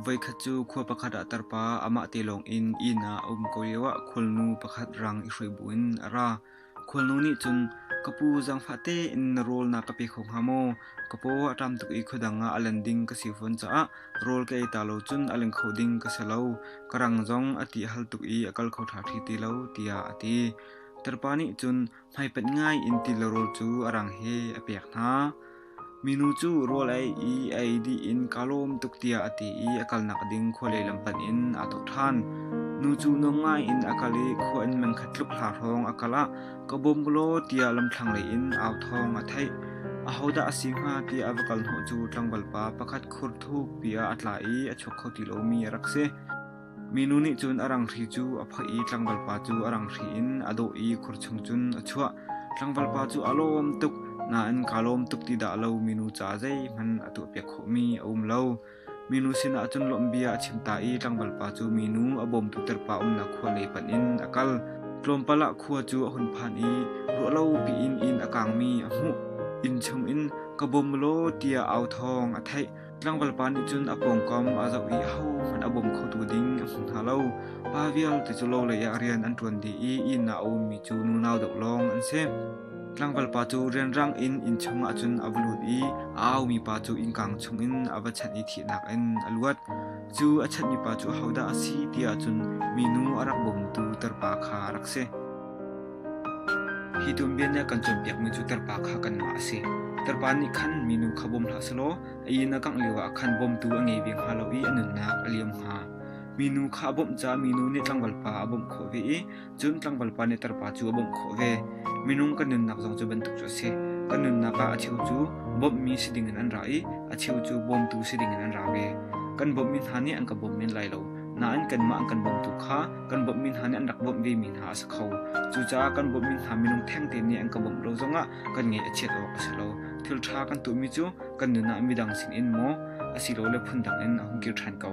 Voikhat cu khua pakhat ah tarpa amah te lawng in inn ah a um ko lioah khualnu pakhat rang i hruai buin a ra. Khualnu nih cun, Ka pu zangfah tein na rawl na ka pe kho hnga maw? Ka paw a ṭam tuk i khuadang ah a lan ding ka si fawn caah rawl ka ei ta lo cun a leng kho ding ka si lo. Ka rang zong a ti hal tuk i a kal kho ṭha ṭhi ti lo tiah a ti. Tirhpa nih cun hmaipanh ngai in tilarawl cu a rang he a pek hna. Minu cu rawl ei i a ei dih in kaa lawm tuk tiah a ti i a kalnak ding khua lehlam hmanh in aa thawk ṭhan. Nu cu nuam ngai in a kal i khua inn mengkhat tluk hla hrawng a kal ah ka bawm ko law tiah lamthlanglei in au thawng a theih. Ahodah a si hnga tiah a va kal hnawh cu tlangvalpa pakhat khur thukpi ah a tla i a chuak kho ti lomi a rak si. Minu nih cun a ranghri cu a phoih i tlangvalpa cu a ranghri in a dawh i khur chung cun a chuah. Tlangvalpa cu a lawm tuk nain kaa lawm tuk ti dah lo minu ca zeihmanh a tuahpiak khawhmi a um lo. Minu sinah cun lawmhbia a chim ta i tlangvalpa cu minu a bawmtu terpa umnak khua lei panh in a kal. Tlawmpal ah khua cu a hun phan i ruahlo piin inn a kaangmi a hmuh. Inn chungin ka bawm law tiah au thawng a theih. Tlangvalpa nih cun a pawngkam a zoh i ahohmanh a bawm khotu ding a hmu hna lo. Pa vialte cu lo leiah rian an ṭuan dih i inn ah a ummi cu nunau deuh lawng an si. Tlangvalpa cu rianrang in inn chungah cun a va lut i a aumi pa cu innkang chungin a va chanh i thihnak in a luat. Cu a chanhmi pa cu hodah a si ti ahcun minu a rak bawmtu tarpa kha a rak si. Hi tum bianea kan cawnpiakmi cu Tarpa kha kanmah a si. Tarpa nih khan minu kha bawm hlah selaw a inn a kangh lioah khan bawmtu a ngei ve hnga lo i a nunnak a liam hnga. Minu kha a bawmh caah minu nih tlangvalpa a bawmh khawh ve i cun tlangvalpa nih tarpa cu a bawmh khawh ve. Minung kan nunnak zong cu bantuk cu a si. Kan nunnak ah a cheu cu bawmhmi si dingin an ra i a cheu cu bawmtu si dingin an ra ve. Kan bawmhmi hna nih an ka bawm men lai lo, nain kanmah an kan bawmtu kha Kan bawmhmi hna nih an rak bawmh vemi hna a si kho. Cucaah kan bawmhmi hna minung thengte nih an ka bawmh lo zongah kan ngaih a chiat awk a si lo. Thilṭha kan tuahmi cu kan nun ah midang sinin maw asilole phundang in a hung kir ṭhan ko.